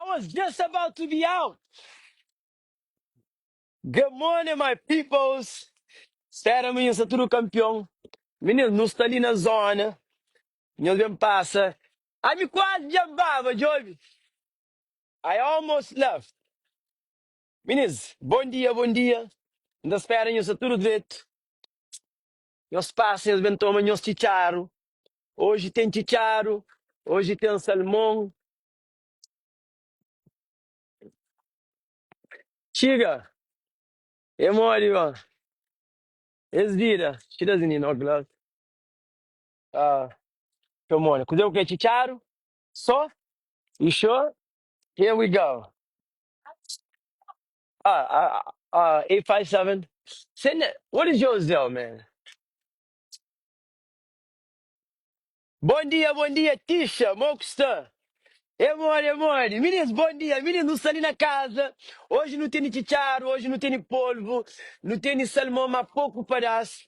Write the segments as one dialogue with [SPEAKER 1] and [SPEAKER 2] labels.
[SPEAKER 1] I was just about to be out. Good morning my peoples. Spera mi nhos sta tudu kampion. Minis nu sta li na zona. Nhos ben pasa. Ai mi kuazi dja baba dja obi. I almost left. Minis, bon dia, bon dia. N ta spera nhos sta tudu dretu. Nhos pasa es ben toma nhos txitxaru oji ten txitxaru oji ten salmon txiga e modi ba es vida she doesn't in ok love ah txeu mona kuze ku ke txitxaru so e xo here we go. Ah, ah, ah, eight five seven. Send that. What is your Zelle, man? Bom dia, bom dia, Tisha, mó ku sta? É modi, é modi. Minins, bom dia. Minins, nu sta li na kaza. Oji nu teni txitxaru, oji nu teni polvu, nu teni salmon, ma poku padás.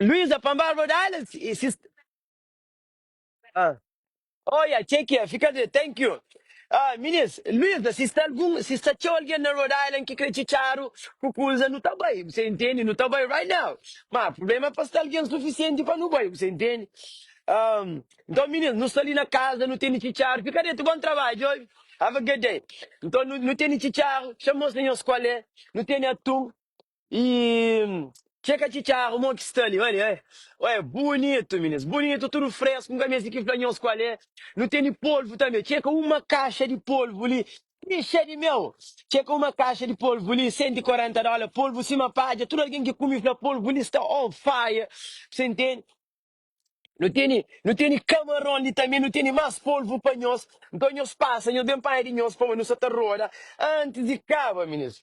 [SPEAKER 1] Luísa pan barba da ela e si ah oia txê ki é fika de thank you ah minis Luísa si sta algun si sta txeu algen na Rhode Island ki kre txitxadu ku kuza nu ta bai bu sa intendi nu ta bai right now ma prubléma é pa sta algen sufisienti pa nu bai bu sa intendi ah nton minis nu sta li na kaza nu tene txitxadu fika dretu bon trabadju obi have a good day nton nu tene txitxadu xa mostra nhos kual é nu tene atun. E txê ka txitxaru mon ki sta li Oi li Oi bunitu minis bunitu tudu fresku N ka meste ki fla nhos kual é Nu ten di polvu tanbe txê ka uma kaxa di polvu li Ixe di meu txê ka uma kaxa di polvu li Sentu i korenta dóla polvu sima padja Tudu algen ki kume fla polvu li sta on fire Bse ntende Nu ten di nu ten di kamaron li tanbe Nu ten di más polvu pa nhos Nton nhos pasa nhos ben panha di nhos Pamodi nu sa ta roda antis di kaba minis.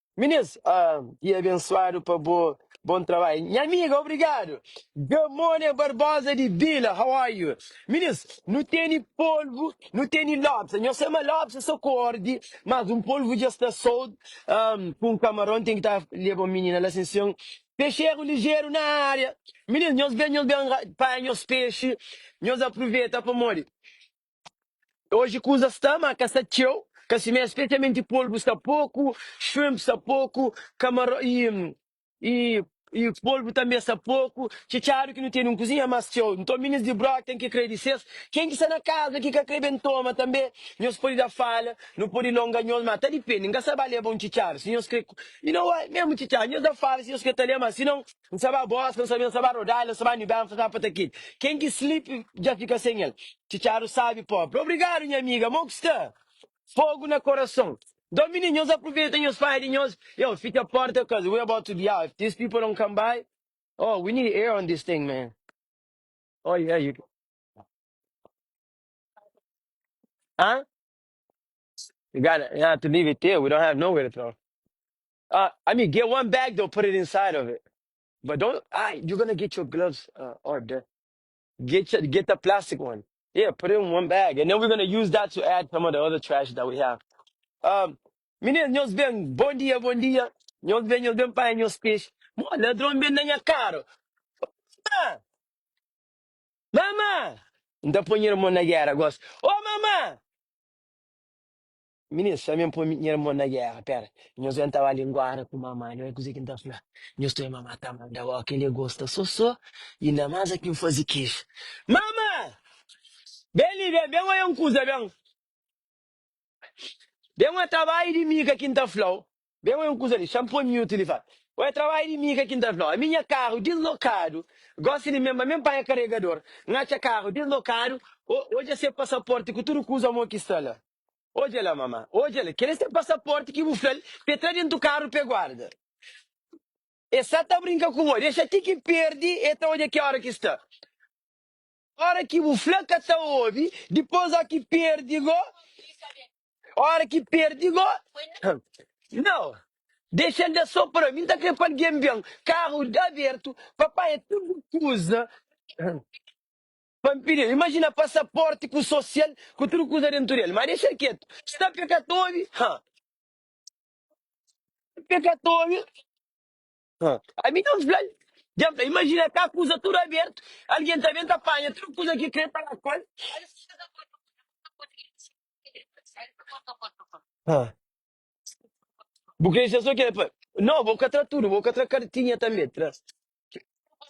[SPEAKER 1] Minis ahh e abensuadu pa bo bon trabalho nha amiga obrigado good morning barbosa di bila how are you minis nu teni polvo nu teni lobsa nhos sa ma lobsa sa ku ordi mas um polvo dja sta sold ahh ku um camaron tem ki ta leba um minina la sim senhor pexeiro ligeiro na área minis nhos ben nhos ben panha nhos peixe nhos aproveta pamodi. Oji kuza sta, má ka sta txeu, ka simé, spesialmenti polbu sta poku, shrimp sta poku, kamaron y y polbu tanbe sta poku, txetxadu ki nu tene un kuzinha más txeu. Nton minis di Brock ten ki krê di ses, ken ki sta na kaza ki ka krê ben toma tanbe, nhos pode da fala, nu pode longa nhos, má ta dipende, n ka sta ba leba un txetxadu si nhos krê, y no way, mésmu txetxadu nhos da fala si nhos krê ta lé, má si non. N sa ba bos, ka N sabe, N sa ba rodal, N sa ba nibel, N sa ba patakit Ken ki slip dja fika sen el Txitxadu sabi pobri Obrigadu nha amiga Mo ku sta fogu na korason Dó mi di nhos Apruveta nhos pai di nhos Yo fitxa porta cuz we about to be out If these people don't come by Oh we need air on this thing man Oh yeah you can Huh? You gotta, you have to leave it there We don't have nowhere to throw Ah, I mean, get one bag though, put it inside of it. But don't, ah, you're gonna get your gloves uh, or the, get your, get the plastic one. Yeah, put it in one bag. And then we're gonna use that to add some of the other trash that we have. Um, meninas, nós bem, bom dia, bom dia. Nós bem, nós bem, pai, nós peixe. Mó, ladrão bem na minha cara. Ah, mamã! Não dá pra ir na guerra, gosto. Ô, mamã! Ministru, Ami N poi nha irmon na géra, pera, nhos ben ta ba li Nguara ku Mama, li oi kuzê ki N ta fla nhos toi, Mama, Tá ma Dawa kel li gosta sosô i na masa ki N faze keju. Mama, Ben li ben, ben oia un kuza ben, ben oia trabadju di miga ki N ta fla-u, ben oia un kuza li, xa N poi miútu li, fala, Oia trabadju di miga ki N ta fla-u, ami nha karu dislokadu, gosi di mba ben panha karegador, N atxa karu dislokadu, o odja se pasaporti ku tudu kuza mo ki sta la. Odja la mama, odja la, kel é se pasaporti ki bu fla-l pa e tra dentu karu pa e guarda. E sa ta brinka ku bo, dexa ti ki perdi e ta odja ki ora ki sta. Ora ki bu fla ka ta obi, dipos o ki perdi go, ora ki perdi go, nau, dexa-l da so pra mi, n ta kre pa algen ben, karu abertu, pa panha tudu kuza. Pa N pidi-l. Imajina pasaporti ku sosial ku tudu kuza dentu del. Ma dexa-l ketu. Sta pe ka ta obi. Ha. Sta pe ka ta obi. Ha. Ami dja N fla-l. Dja N fla-l. Imajina ka kuza tudu abertu. Algen ta ben ta panha tudu kuza ki krê ta da ku-l. Ha. Bu krê dexa so kila pa mi? No, bo ka tra tudu. Bo ka tra kartinha tanbe. Tra.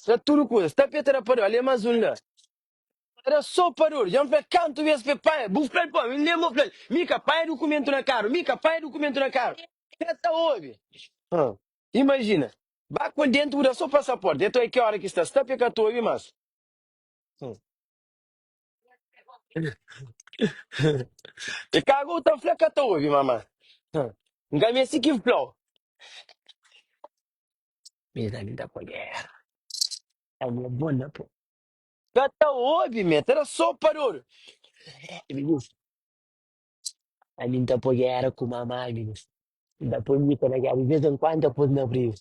[SPEAKER 1] Ra tudu kuza. Tapeta ra pador, ale mas un la. Ra so pador, dja N fla-l kantu bes pa e panha, bu fla-l pa mi, N lenba fla-l, mi ka panha dukumentu na karu, mi ka panha dukumentu na karu. El ka ta obi. Ha, imajina, ba ku el dentu bu da so pasaporti, nton e ki ora ki sta sta pa e ka ta obi mas. E ka gou ta fla ka ta obi, mama. N ka meste ki fla-u. Mê da lida kolher. Awa bon na po. Ka ta obi mê, ta da so pa dodu. Mi dis, a mi N ta pô gera ku mamai, mi dis. N ta pô nika na gera, di vez en kuandu N ta pô-s na briga.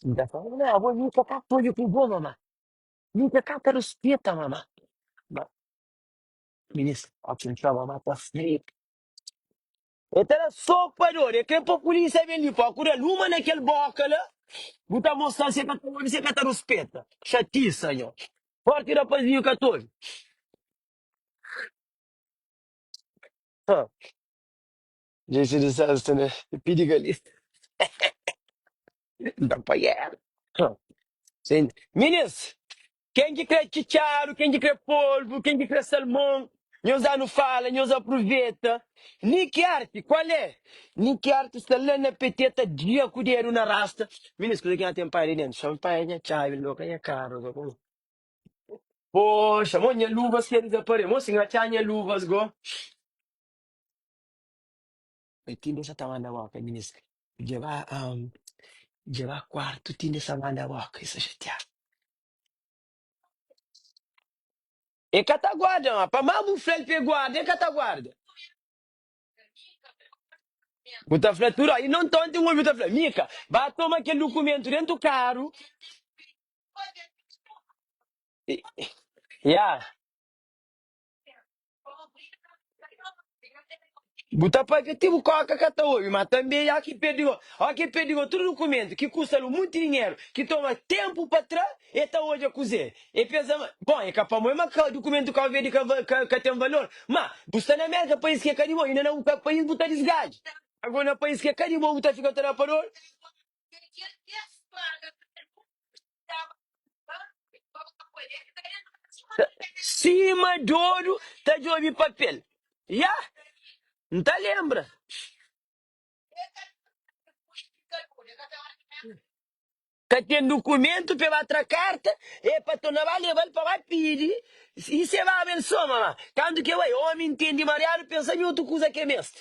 [SPEAKER 1] N ta fla, Mamá, bo nika ka ta odja ku bo, mamá. Nika ka ta rispita, mamá. Ma, mi dis, oki N txora mamá ta fla-m. E ta da soku pa dor, e krê pa pulísia ben li pa ku da luma na kel bóka la. Bu ta mostra-l si e ka ta obi, si e ka ta ruspeta. Xatisa, nho! Fórti rapazinhu ka ta obi. Ha! Djinsi di sesta na pi di galeta. N ta apanha el. Ha! Minis! Ken ki kre txitxaru, ken ki kre polvu, ken ki kre salmon, nhos da nu fala, nhos apruveta. Ni ki arti, kualé? Ni ki arti sta la na peteta, gia ku dedu na rasta. Minis, kuza ki nha ten pai li dentu? Xan pai, nha txavi, loka nha karu, loka nha. Poxa, mon nha luvas ke dizapare, mon si nha txa nha luvas go. E tinde sa ta manda boka ministra djeba djeba quarto tinde sa manda boka e sa xateada. E ka ta guarda ma pa ma bu flal pa e guarda e ka ta guarda. Bu ta fla tudo i non tonte obi bu ta fla Mika ba toma kel dukumento dentu karu ya. Bu ta papia ti bu kóka ka ta obi, má tanbê i óki perdigó. Óki perdigó tudu dukumentu ki kusta-l un monti dinheru, ki toma ténpu pa tra, el ta odja kuzê el peza ma. Bon, el ka pamodi ma dukumentu Kabu Verdi ka ten valor. Má, bu sta na Mérika, país ki é ka di bo. Inda na bu própi país bu ta disgadja. Ago na país ki é ka di bo bu ta fika ta da pa dóru. Sima djodu ta djobe papel. Ya, N ta lenbra. Ka ten dukumentu pa e ba tra karta, e pa torna ba leba-l pa ba pidi i se baba el soma. Ma kantu ke bai, omi ntende mariadu pensa nhotu kuza ke meste.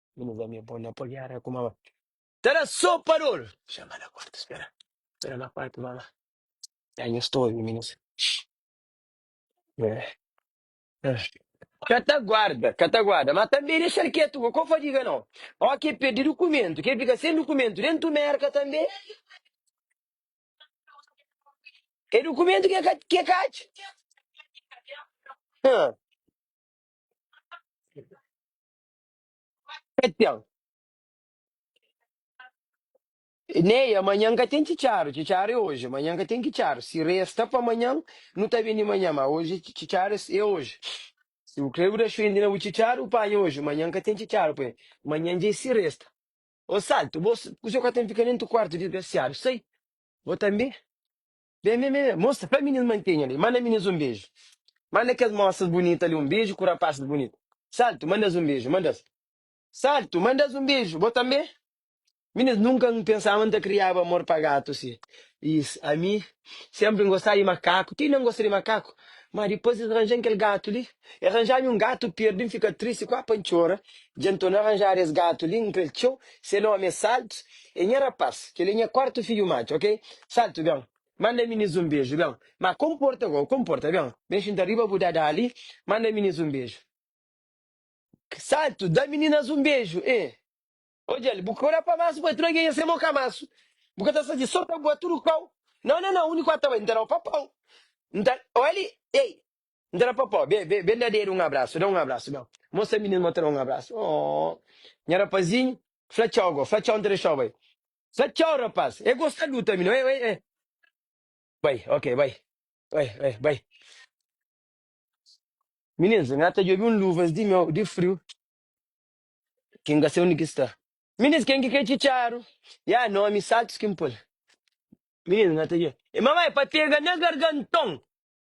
[SPEAKER 1] Mi nu bami bo na podiada ku mama. Ta da sopa dol. Chama na kuartu spera. Spera na kuartu mama. Dá nhos toju mi nu sa. Ka ta guarda, ka ta guarda. Ma tanbe dexal ketu ko ko fadiga no. O ke perdi dukumentu, ke fika sen dukumentu dentu merka tanbe. E dukumentu ke ka ke ka atxa. Hã. Ka ten. Ney, Amanhan ka ten txitxaru, txitxaru é oji, amanhan ka ten kitxaru, si resta pa amanhan nu ta ben di manhan, ma oji txitxaru é oji, si bu kre bu da xwendi na bu txitxaru bu panha oji, manhan ka ten txitxaru pa el, manhan dja é si resta. Ô Saltu, bo kuzê ka ten fika nen tu kuartu disgrasiadu, sai, bo tanbe. Bem bem bem mostra pa minis mantenha li manda minis um beju manda kes mosas bunita li um beju ku rapazes bunita salto mandas um beju mandas salto mandas um beju bo tambe minis nunca um pensava um ta criaba amor pa gato si is ami sempre um gostava di macaco ti um gosta di macaco ma depois is ranjan kel gato li. E ranjá-mi un gatu perdi, N fika tristi kuá pa N txora, Dja N to na ranjada es gatu li, N kre-l txeu, se nómi é Saltu, é nha rapás, kel-li é nha kuartu fidju matxu, ok? Saltu, ben, manda Minis un beju, ben, má konporta gó, konporta, ben, ben xinta riba bu dadá li, manda Minis un beju. Saltu, da meninas un beju, eh! Odja-l, bu ka olha pa masu, bai tudu algen, esse é mau kamasu, bu ka ta sazi, só ta bua tudu pau, nau, nau, nau, úniku ata bai, N ta dau papau, N ta, oi ali, ei! N ta da pa po. Be, be, be N da dedu un abrasu, da un abrasu Be mostra minus ma ta da un abrasu Aww Nha rapazinhu Fla txau go, fla txau N ta dexau bai Fla txau rapaz E gosta du tanbi no, e, e, e Bai, ok, bai Bai, bai, bai Minus, N ta djobe un luvas di meu, di friu Ki N ka se undi ki sta Minus, Ken ki ke txitxaru Ya nomi saltus ki N pul Minus, N ta djobe, e mama e pa pega na garganton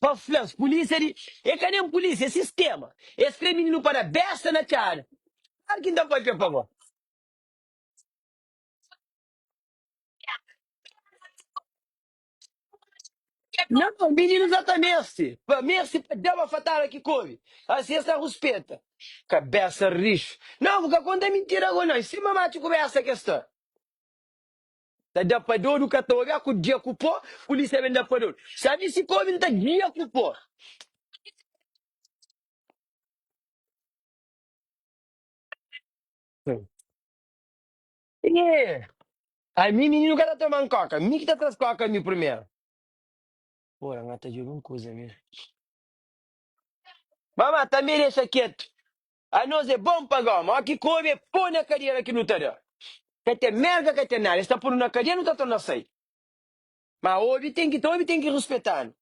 [SPEAKER 1] Pa fla-s, Pulísia li é ka nen pulísia, é sistéma. Es krê mininu pa da bésta na txada. Kláru ki N ta pâpia pa bo. Nau, mininu sa ta meste pa meste pa da-ba fatáda ki kóbi. Asi es ta ruspeta. Kabésa rixu. Nau, bu ka konta mintida ku nos. Sinba matxu ku bésta ki es ta. Ta da pa dodu ka ta obi a ku dia ku po pulisia ben da pa dodu sa di si kobi nta dia ku po. Ami mininu ka ta toma un koka mi ki ta tras koka mi primeru ora nga ta jubi un kuza mi mama tanbe dexa ketu. A nos é bon pa goma, ó ki kobe é po na kadera ki nu ta da. Ka ten merga, ka ten nada, es ta po-nu na kadia, nu ta torna sai. Ma obi ten ki ta obi, ten ki ruspeta-nu.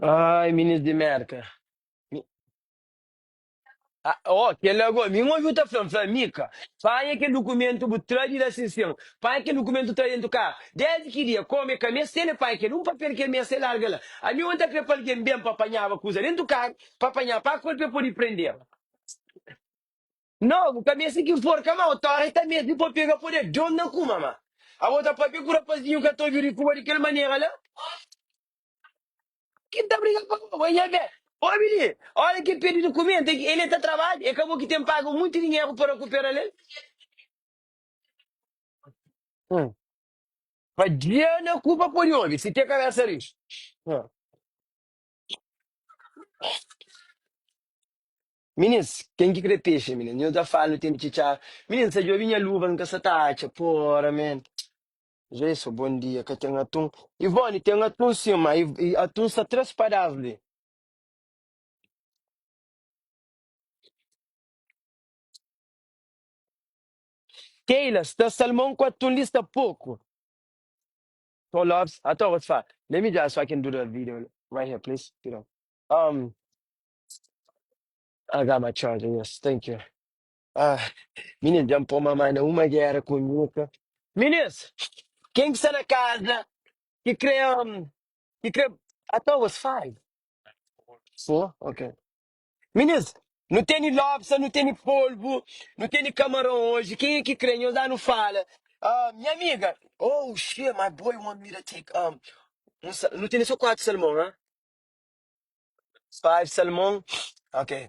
[SPEAKER 1] Ai, minins di Merka. Ah, ó, kel ago, mi n obi-u ta fla-m, fla Mika, panha kel dukumentu bu tra di la sin sen, panha kel dukumentu tra dentu karu. Désdi ki dia, kóme ka meste el, e panha kel un papel ki el meste, e larga la. Ami ônti apé pa algen ben pa panhaba kuza dentu karu, pa panha pa ku el, pa e pode prende-l. Nau, bu ka meste ki forka ma, otora e ta meste pa pega pa odja di ônti na kuma ma. Abo ta pâpia ku rapazinhu ka ta obi-u di kuma di kel manera la? Ki ta briga pa bo, bo nha be. Obi li, ora ki pedi dukumenta ki ele ta trabadja, e ka bo ki ten paga munti dinheru pa rakuperal el? Hum. Pa dja na ku pa podi obi, si te kabesa rixu. Hum. Minins, ken ki kre pexe, minins? Nho ta fala nu ten di txitxa. Minins, n sa djobi nha luva, n ka sa ta atxa. Pora, men. Jeyson, Bom dia, ka ten atun. Ivone, Ten atun sim, ma e atun sta tres padaz li. Keila, Sta salmon ku atun li sta poku. Tom Lopes, Ato gosi fa, let me just fa kin duda video right here please pidon. Um, I got my charger, yes, thank you. Ah, minis dja-m pô mamá na uma guera ku nhuka. Minis! Ken ki sta na kaza ki kre am, ki kre atau was fai? Fô, ok. Minis, nu teni lobsa, nu teni polbu, nu teni kamaron oji, ken e ki kre nhos da nu fala. Ah, nha amiga! Oh, xe, my boy want me to take am un sa, nu teni so kuatu salmon, ha? Five salmon, ok.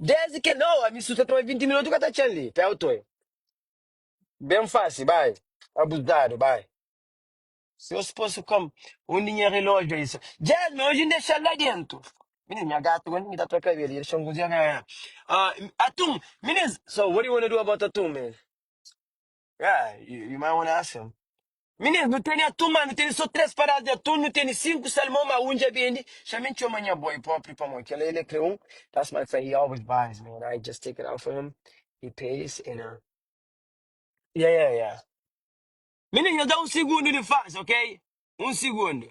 [SPEAKER 1] Desdi kel dia, oh, ami su ta toma 20 minutu ka ta txen li, pa el toi. Ben fasi, bai. Abuzadu, bai. Si nhos posi kom undi nha relójiu ai sa. Jasmine, oji N dexa-l la dentu. Minis, nha gatu ka ningi ta tra ka-l el, i dexa-m ku zia ka. Atum, minis, so, what do you wanna do about Atum, man? Ah, i- irmã Onácia. Menino, não tem atum, mas não tem só três paradas de atum, não tem cinco salmão, mas um já vende. Já me encheu amanhã boy, pô, abrir pra mão. Que ele, ele criou um. That's my friend, he always buys, man. I just take it out for him, he pays, and uh, yeah, yeah, yeah. Menino, eu dá um segundo de faz, ok? Um segundo.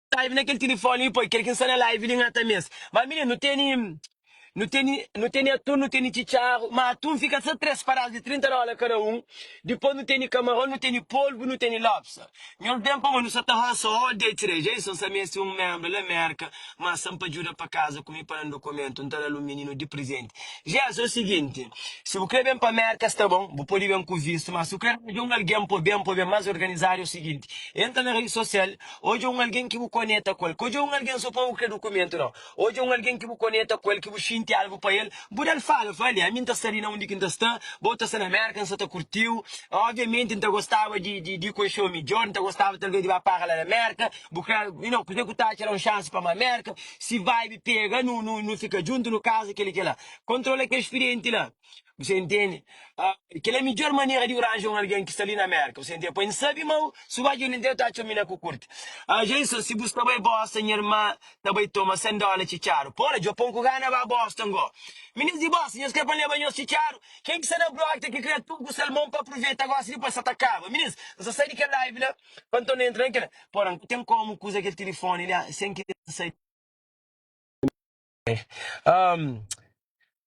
[SPEAKER 1] Live na kel tilifoni li poi kel ki n sta na live li ngata mes ma mine nu teni nu teni nu teni atun nu teni txitxaru ma atun fika sa tres paras di 30 dola kada un dipos nu teni kamaron nu teni polbu nu teni lobster nhos ben pa mo nu sa ta rosa all day today Jason sa meste un membro la merka ma san pa djuda pa kaza ku mi pa nan dokumentu n ta dal un mininu di prizenti Jason o siginti si bu kre ben pa merka sta bon bu podi ben ku vistu ma si bu kre aranja un algen po ben po ben mas organizadu o siginti entra na redi sosial Odja un algen ki bu koneta ku el. Ka odja un algen sô pa bu krê dukumentu, nau. Odja un algen ki bu koneta ku el, ki bu xinti algu pa el. Bu da-l fala, Fla li, ami N ta sta li, na undi ki N ta sta, bo bu ta sta na Mérka, N sta ta kurti-u. Óbviamenti, N ta gostaba di di konxe-u midjór, N ta gostaba talvês di ba para la na Mérka. Bu krê, you know, kuzê ki bu ta atxa la un xansi pa ma Mérka? Si vibe pega, nu nu nu fika djuntu, nu kaza, kel-li, kel-la. Kontrola kes firienti la. Bu sta intende? Ah, kel é midjor manera di bu ranja un algen ki sta li na Mérka, bu sta intende? Pa N sabe mau, si bu atxa un intende ta atxa mi na ku kurti. Ah, dja insa, si bu sta bai Boston, nha irma ta bai toma sen dóla txitxaru. Pô, na Djapon ku gana ba Boston gó. Minins di Boston, nhos krê pa N leba nhos txitxaru? Ken ki sta na blog ta ki kria tugu ku sel mon pa apruveta gósi dipôs sa ta kaba. Minins, N sa sai di kel live la pa nton N entra na kel. Pô, na N ka ten kómu kuza kel tilifóni li, ah, sen kria N sai di. Ahm,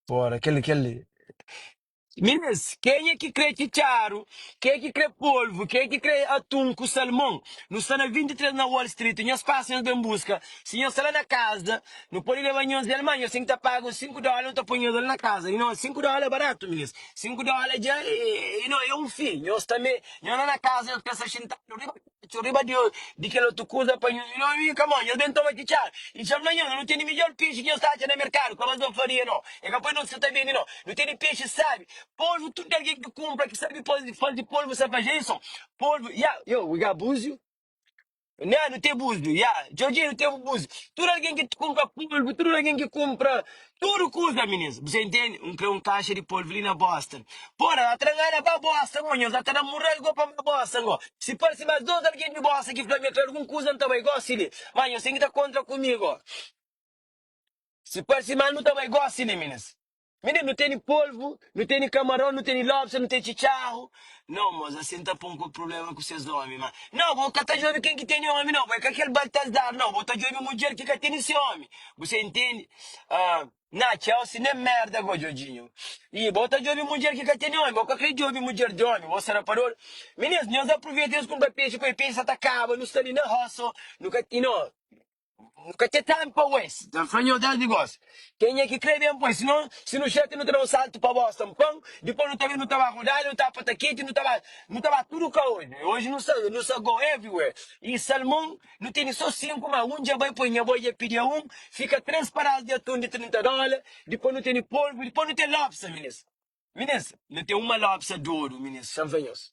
[SPEAKER 1] fora, kel, kel. Minas, kenha ki kre txitxaru, ke ki kre polvu, ke ki kre atun ku salmon? Nu sta na 23 na Wall Street, nhos pasa nhos ben buska. Si nhos sta la na kaza, nu pode leba nhos el, ma nhos ten ki ta paga un 5 dóla nu ta poi nhos la na kaza. Di nós, 5 dóla é baratu, minas. 5 dóla dja é, é, é, é un fi. Nhos ta me, nhos la na kaza nhos pensa xintadu riba. Txeu riba di kel otu kuza pa nhu. Nhos vinha ka mo, nhos ben toma ki txabi. I txeu fla nhos, Nu tene midjór pexi ki nhos ta atxa na merkadu. Kla, Mas N faria no. E ka poi nos ki sa ta bende no. Nu tene pexi sabi, polvu. Tudu algen ki kunpra ki sabi fazi, fazi polvu sa pa Jason. Polvu, ya. Yo, we got buzu? Nha, nu ten buzu, ya. Djordjinho, nu ten bu buzu. Tudu algen ki kunpra polvu, tudu algen ki kunpra Tudo kuza minins, bu sa intendi? Un kre un kaixa di polvo li na Boston. Pô, na ta ngana ba bossa ngó, nhos na ta da murrel gó pa ma bossa ngó. Si parse mas dos algen di bossa ki fla mi akla algun kuza, N ta bai gosi li. Má nhos ten ki ta kontra ku mi gó. Si parse mal nu ta bai gosi li, minins. Minins, nu teni polvo Nu teni kamaron, nu teni lobster, nu teni txitxarru. Nau, mos asin ta pon ku prubléma ku ses ómi. Ma, nau, bo ka ta djobe ken ki teni ómi, nau, bo é ka kel Baltazar, nau, bo ta djobe mudjer ki ka teni se ómi. Bu sta intendi? Ah, na txeu, si nen mérda bo djodjinhu. I bo ta djobe mudjer ki ka teni ómi, bo ka krê djobe mudjer di ómi, bo sta na pador. Minins, nhos apruveita nhos kunpra pexi, poi pexi sa ta kaba, nu sta li na rosa, nu ka. I no. Nu ka txê ténpu pa oes, dja-m fla nho dés nigós. Kenha ki krê ben pois, sinon, si nu xéta, nu ta da un saltu pa bósta un pon, dipôs nu ta ben, nu ta ba Rodali, nu ta ba Patakiti, nu ta ba, nu ta ba tudu kaódju. E oji nu sa, nu sa go everywhere. I salmon, nu tene sô sinku, má un dja bai, poi nha boi dja pidi-a un, fika três paraz di atun di 30 dóla, dipôs nu tene polvu, dipôs nu ten lobsa, minis. Minis, nu ten uma lobsa di oru, minis, dja-m fla nhos.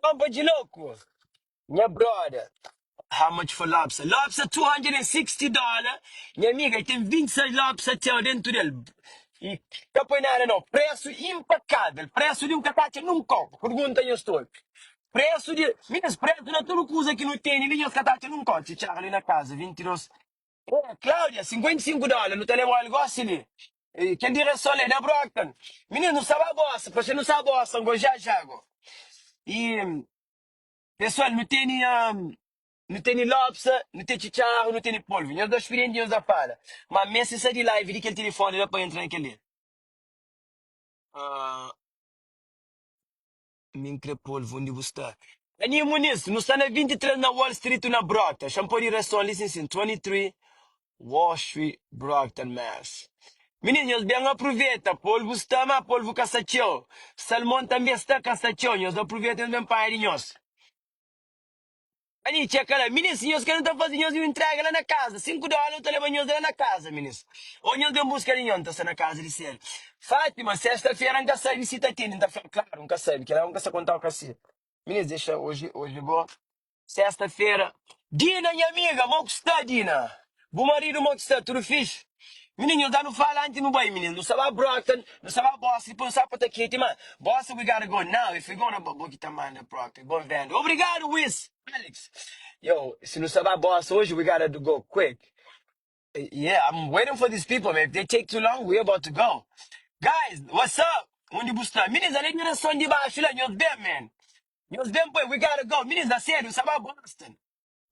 [SPEAKER 1] Ponpa de louco, nha brother. How much for lobster? Lobster 260 dollar Nha amiga, e ten 26 lobster txeu dentu del E ka poi nada no Presu impakável Presu di un katacha nun kau Purgunta nhos tol Presu di Minus presu na tudu kuza ki nu teni li Nhos katacha nun kau Txi Charlie na kaza 22. Ô, Cláudia, sinkuenta i sinku dóla nu ta leba-u al gósi li. E, kel di Reson la é da Brockton. Minus, nu staba a gosa, pamodi nu sta gosa un gosi ja-ja go. I, pesoal, nu teni, nu teni lópsa, nu ten txitxarru, nu teni polvu. Nhos dôs spirienti nhos na fala, má mé si sai di la i vidi kel tilifóni da pa entra na kel-li. Mi n kre pol-v undi bu sta. Aninha Muniz, Nu sta na 23 na Wall Street na Brockton, xa N pode ira son li sin sin 23 Wall Street, Brockton, Mass. Minis, Nhos ben apruveta, polvu sta, má polvu ka sta txeu. Salmon tanbê sta, ka sta txeu. Nhos apruveta, nhos ben panha di nhos. Ali txeu kala, Minis, nhos ka nu ta faze nhos un intrega la na kaza, sinku dola nu ta leba nhos la na kaza, minis. O nhos ben buska li nho, N ta sta na kaza di Sérviu. Fátima, Sesta-fera N ka sabe si ta tene, N ta fla-l, Klaru N ka sabe, kela N ka sta kontau ka se. Minis, Dexa, oji, oji bo. Sesta-fera, Dina, nha amiga, mo ku sta, Dina? Bu marido mo ki sta? Tudo fixe? Minin nhos da nu fala anti nu bai minin nu sa ba broken nu sa ba bosta dipos nu sa pa ta keti ma bosta we gotta go now if we gonna ba bo ki ta manda proke bon venda obrigado wiz Alex yow si nu sa ba bosta hoje we gotta do go quick yeah I'm waiting for these people man if they take too long we about to go guys what's up undi bu sta minins ale di reson di baxu la nhos ben man nhos ben poi we gotta go minins da sedu nu sa ba bosta.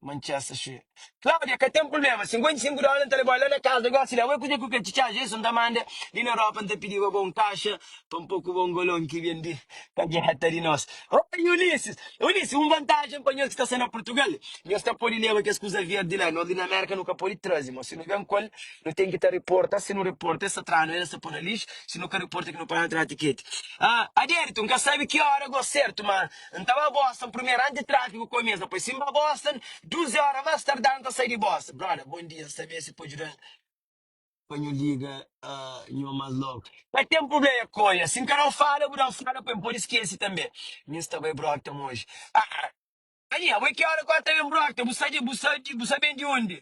[SPEAKER 1] Manchester xi. Claudia, ka ten prubléma, 55 dóla N ta leba-u la na kaza gósi la, ué kuzê ki bu krê txi-txá Jeson ta manda li na Europa N ta pidi-ba ba un kaxa pa N po ku ba un golon ki ben di kagéta di nos Oi Ulisses, Ulisses, un vantájen pa nhos ki ta sta na Purtugal, nhos ta pode leba kes kuza verdi la, nos li na Amérika nu ka pode traze, má si nu ben ku el, nu ten ki ta riporta, si nu riporta, el sta tra-nu, el sta po na lixu, si nu ka riporta ki nu pa na tra tiketi. Adérito, N ka sabe ki óra gó sértu, má. N ta ba Boston primeru anti tráfiku komesa poi si N ba Boston duzi óra más tardá N ta sai di Boston Brother bon dia N sta meste pa djuda-m pa nhu liga nho más logu Ka ten prubléia Kóia si N ka dau fala bu da-m fala poi N pode skese tanbe Mi N sta bai Brockton oji Aa Ania bo é ki óra ku ata ben Brockton bu sta di bu sta di bu sta ben di undi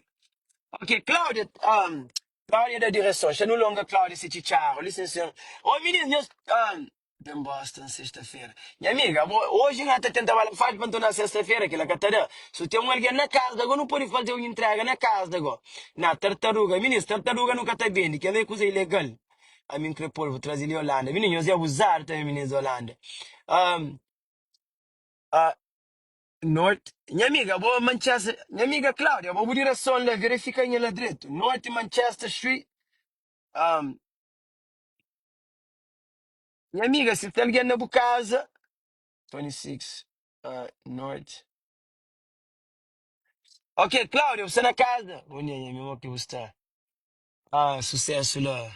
[SPEAKER 1] Ok Kláudia ahm Kláudia da direson Xa nu longa Kláudia se txitxáru Lisensen Ô minis nhos ahm. Ben Boston sesta-fera. Nha amiga, abo, oji nha ta tenta bala faxi pa ntorna sesta-fera, kila ka ta da. Su ten un algen na kas da go, nu podi faze un intrega na kas da go. Na, tartaruga, minis, tartaruga nu ka ta bendi, kel la e kuza ilegal. A mi nkre pol, bu traze li Olanda. Minis, nhos e abuzadu tanbe, minis di Olanda. Ahm, ah, Norte, Nha amiga, abo, Manchester, Nha amiga Claudia, abo, bu dirason la, verifika nha la dretu, Norte Manchester Street, ahm, Nha amiga, si ten algen na bu kaza, 26 ah, norte. Ok, Cláudia, bu sta na kaza? Bom dia, nha amiga, ok, bu sta. Ah, sucesso la.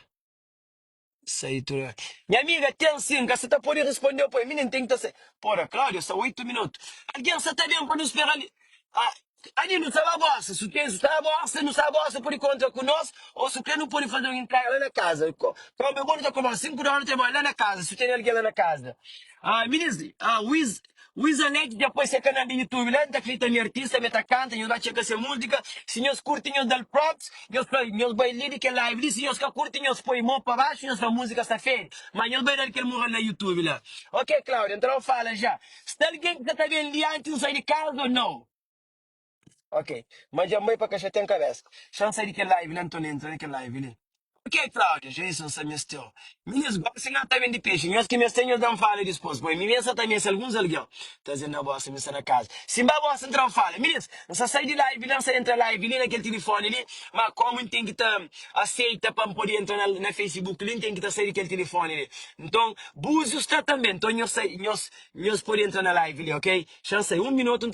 [SPEAKER 1] Sai tudo. bem. Minha amiga, tem sim, cá você tá pode responder depois. Menino, tem que tá sem. Porra, Cláudia, só oito minutos. Alguém só tá bem para nos esperar ali. Ah, Adi nu sta ba gosta, su k'es sta gosta, nu sta gosta podi kontra ku nos o su k'es nu podi faze un intrega la na kaza. Kau me bo nu ta komesa sin ku dónu trabadja la na kaza su tene algen la na kaza. Ah minis ah wiz wiz alek dja poi se kanal di youtube la nta klita mi artista me ta kanta nhos ba txeka se múzika si nhos kurti nhos dal props nhos pa nhos bai li di kel live li si nhos ka kurti nhos poi mô pa baxu nhos fla múzika sta fedi ma nhos bai dal kel moral na youtube la ok claudia nta nau fala ja. Si algen ki ka ta ben li antis N sai di kaza ô nau? Ok, ma dja mai pa ka xa ten kabesa. Xa N sai di kel live li anton N entra na kel live li. Ok Claudia, dja es N sa meste-u. Mi nes gosi si N ka ta bendi pexi nhos ki meste nhos da N fala dispos poi mi ben sa ta meste alguns algen ta zen na bosta mi sta na kaza si N ba bosta N tra N fala mi nes N sa sai di live li N sa entra live li na kel tilifoni li ma komu N ten ki ta aseita pa N pode entra na na Facebook li N ten ki ta sai di kel tilifoni li Nton Búzius ta tanbê Nton nhos sai nhos nhos pode entra na live li ok Xa N sai un minotu